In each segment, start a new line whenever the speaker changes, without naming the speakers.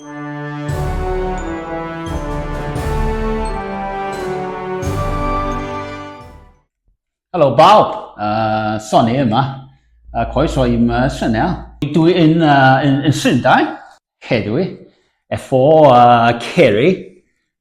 Helo bawb, uh, Sonny yma, a croeso i'm uh, synel. Dwi yn, uh, yn, yn Llundain, hedwi, efo uh, Kerry,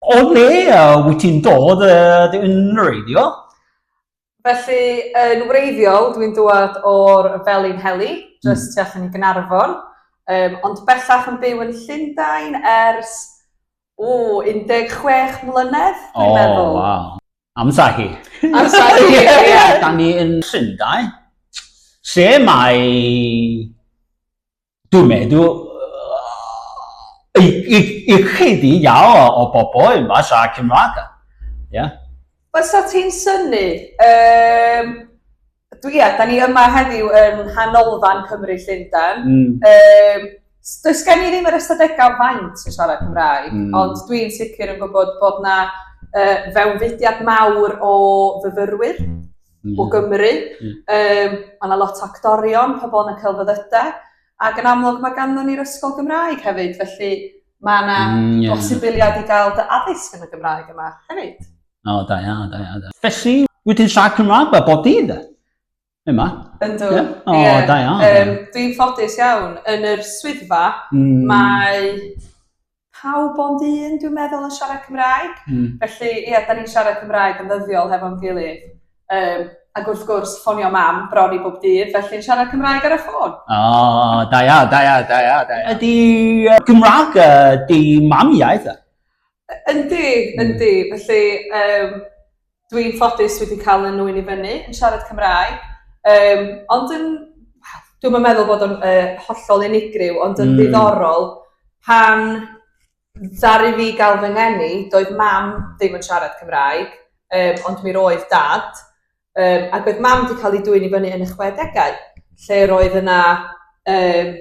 O le wyt ti'n dod dy yn wreiddiol? Felly, yn wreiddiol, dwi'n dod o'r Felin Heli, jyst mm. tu allan i Gynarfon, um, ond bellach yn byw yn Llundain ers, o, 16 mlynedd, dwi'n oh, meddwl. Wow. Amser hi. Amser hi, ie. Da ni yn Llundain, se mae Dwi'n meddwl ychydig iawn o bobl yn siarad Cymraeg. Ie. Fysa ti'n synnu? Yym, dwi, ia, da ni yma heddiw yn nghanolfan Cymru Llundain. Yym, does gen i ddim yr ystadegau faint yn siarad Cymraeg, ond dwi'n sicr yn gwybod bod 'na yy fewnfudiad mawr o fyfyrwyr. mm. o Gymru. Mm. Um, mae yna lot o actorion, pobl yn y celfyddyda, ac yn amlwg mae ganddo ni'r ysgol Gymraeg hefyd, felly mae yna mm, yeah. bosibiliad i gael dy addysg yn y Gymraeg yma hefyd. O, da ia, da ia, da. Felly, wedyn siarad Cymraeg fe, bod i dde? Yma? Yndw. Yeah. O, oh, yeah. da iawn. Um, Dwi'n ffodus iawn. Yn yr swyddfa, mm. mae pawb ond un dwi'n meddwl yn siarad Cymraeg... Hmm. ...felly ie 'dan ni'n siarad Cymraeg yn ddyddiol hefo'n gilydd yym ag wrth gwrs ffonio mam bron i bob dydd felly'n siarad Cymraeg ar y ffôn. O da iawn da iawn da iawn da iawn. Ydi yy Gymra'g yy dy mam iaith e? Yndi yndi felly yym dwi'n ffodus dwi 'di ca'l un ŵyn i fyny yn siarad Cymraeg yym ond yn dwi'm yn meddwl bod o'n yy hollol unigryw ond yn... Hmm. ...ddiddorol pan ddaru fi ga'l fy ngeni doedd mam ddim yn siarad Cymraeg yym ond mi roedd dad yym ag oedd mam 'di ca'l ei dwyn i fyny yn y chwedegau lle roedd yna yym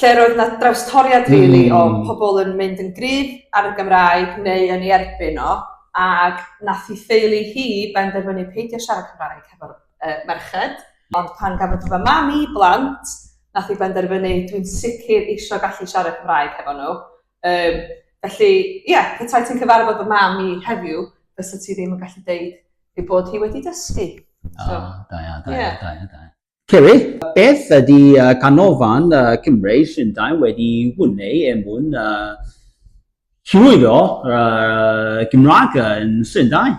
lle roedd 'na drawstoriad rili... Hmm. ...o pobol yn mynd yn gryf ar y Gymraeg neu yn 'i erbyn o ag nath 'i theulu hi benderfynu peidio siarad Cymraeg hefo'r yy merched ond pan gafodd fy mam i blant nath 'i benderfynu dwi'n sicir isio gallu siarad Cymraeg hefo n'w yym felly ia petai ti'n cyfarfod fy mam i heddiw fysa ti ddim yn gallu deud ei bod hi wedi dysgu. O da iawn da iawn da iawn da iawn. Ceri, Beth ydy canolfan Cymreig Llundain wedi wneud er mwyn hyrwyddo'r Gymraeg yn Llundain?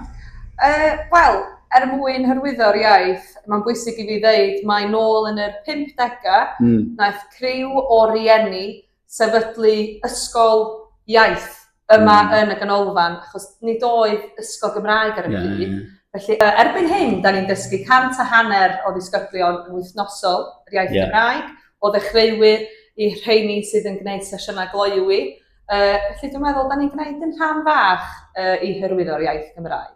Wel, er mwyn hyrwyddo'r iaith, mae'n bwysig i fi ddeud mai nôl yn yr pump degau wnaeth criw o rieni sefydlu ysgol iaith yma yn y ganolfan achos nid oedd ysgol Gymraeg ar y pryd. Yeah, yeah. Felly uh, erbyn hyn, da ni'n dysgu cant a hanner o ddisgyblion yn wythnosol yr iaith yeah. Gymraeg, o ddechreuwyr i rheini sydd yn gwneud sesiynau gloiwi. Uh, felly dwi'n meddwl, da ni'n gwneud yn rhan fach uh, i hyrwyddo'r iaith Gymraeg.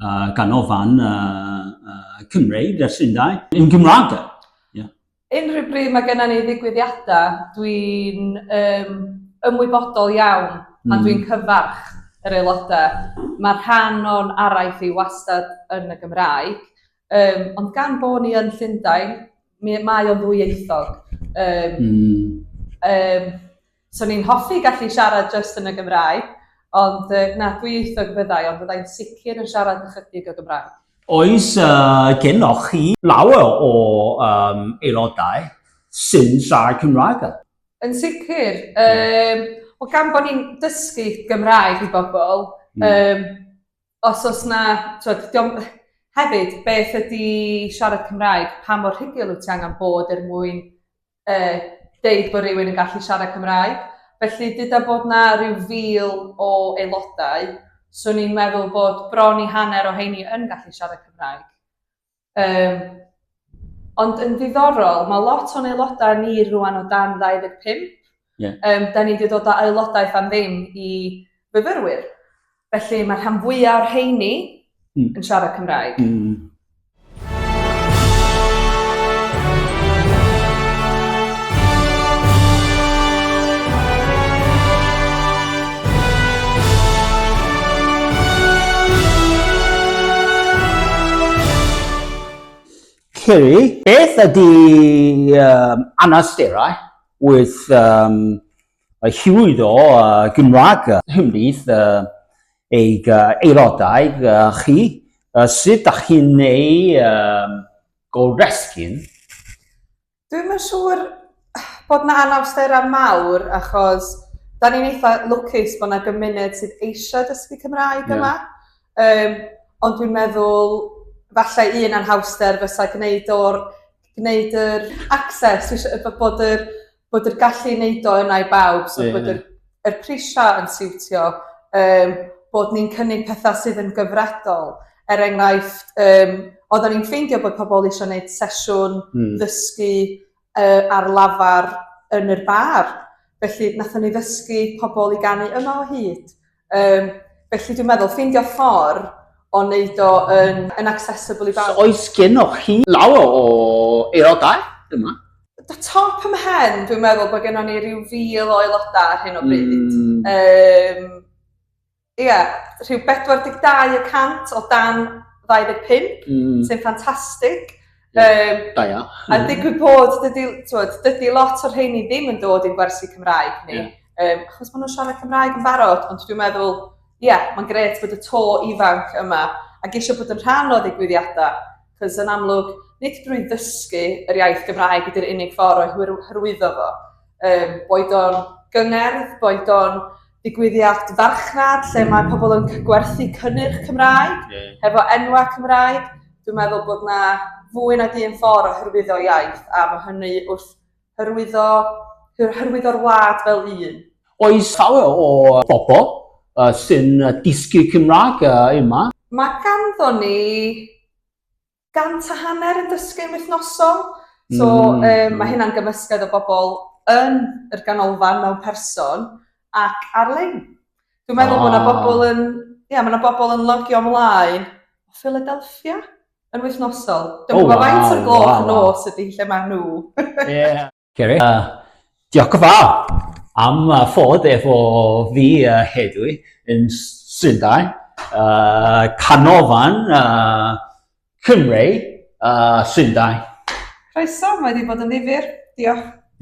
uh, ganolfan uh, uh, Cymreig ers Llundain, yn Gymraeg. Yeah. Unrhyw bryd mae gennym ni ddigwyddiadau, dwi'n um, ymwybodol iawn pan mm. dwi'n cyfarch yr aelodau. Mae rhan o'n araith i wastad yn y Gymraeg, um, ond gan bod ni yn Llundain, mae o'n ddwyieithog. Um, mm. um, 'Swn i'n hoffi gallu siarad jyst yn y Gymraeg, ond yy na, dwyieithog fyddai, ond fyddai'n sicr yn siarad ychydig o Gymraeg. Oes gennoch chi lawer o um, aelodau sy'n siarad Cymraeg? Yn sicr. Um, o gan bod ni'n dysgu Gymraeg i bobl, mm. um, os oes na, twyd, diom, hefyd, beth ydy siarad Cymraeg, pa mor rhugl wyt ti angen bod er mwyn yy deud bod rhywun yn gallu siarad Cymraeg. Felly, dyda bod na rhyw fil o aelodau, so ni'n meddwl bod bron i hanner o heini yn gallu siarad Cymraeg. Um, ond yn ddiddorol, mae lot o'n aelodau ni rwan o dan 25, Yeah. Um, da ni wedi dod â aelodaeth am ddim i fyfyrwyr. Felly mae rhan fwyaf o'r heini mm. yn siarad Cymraeg. Mm. Ciri, beth ydy um, anawsterau? Wrth um, hyrwyddo uh, Gymraeg hymryd uh, eich uh, aelodau uh, chi, uh, sut da chi'n ei um, goresgyn? Dwi'n yn siŵr bod na anawsterau mawr achos da ni'n eitha lwcus bod na gymuned sydd eisiau dysgu Cymraeg yeah. yma. Um, ond dwi'n meddwl, falle un anhawster fysa gwneud o'r gwneud yr access dwi isio bod yr bod yr gallu i neud o yna i bawb... Ie ie. ...so bod yr y prisia yn siwtio yym bod ni'n cynnig petha sydd yn gyfredol er enghraifft yym oddan ni'n ffeindio bod pobol isio neud sesiwn... Hmm. ...ddysgu yy ar lafar yn yr bar felly nathon ni ddysgu pobol i ganu yma o hyd Um, felly dwi'n meddwl ffeindio ffordd o wneud o yn, yn accessible i bawb. So, oes gennych chi lawer o aelodau yma? Da top ym hen, dwi'n meddwl bod gennym ni rhyw fil o aelodau ar hyn o bryd. Mm. Um, Ie, yeah, rhyw 42 y cant o dan 25, mm. sy'n ffantastig. Yym, da iawn. A digwydd bod, dydy, twod, dydy lot o'r rheini ddim yn dod i'n gwersi Cymraeg ni, yeah. um, achos maen nhw'n siarad Cymraeg yn barod, ond dwi'n meddwl, ie, yeah, mae'n gret bod y to ifanc yma ac eisiau bod yn rhan o ddigwyddiadau, cos yn amlwg, nid drwy ddysgu yr iaith Gymraeg ydy'r unig ffordd o'i hyrwyddo fo. Um, boed o'n gyngerdd, boed o'n digwyddiad farchnad lle mae pobl yn gwerthu cynnyrch Cymraeg, yeah. hefo enwau Cymraeg. Dwi'n meddwl bod na fwy nag un ffordd o hyrwyddo iaith, a mae hynny wrth hyrwyddo, hyrwyddo'r wlad fel un. Oes llawer o bobl uh, sy'n dysgu Cymraeg uh, yma? Mae ganddo ni gant a hanner yn dysgu'n wythnosol. So yym ma' hynna'n gymysgedd o bobol yn yr ganolfan mewn person ac ar-lein. Dwi'n meddwl bo' 'na bobol yn ia ma' 'na bobol yn logio mlaen o Philadelphia yn wythnosol. Dw'm yn gwbo faint o'r gloch nos ydi lle ma' nhw. Ie. Ceri. Uh, diolch yn fawr am uh, fod efo fi uh, hedwi yn Llundain, uh, canolfan uh, Cymru uh, Llundain. Croeso, mae wedi bod yn ddifur. Diolch.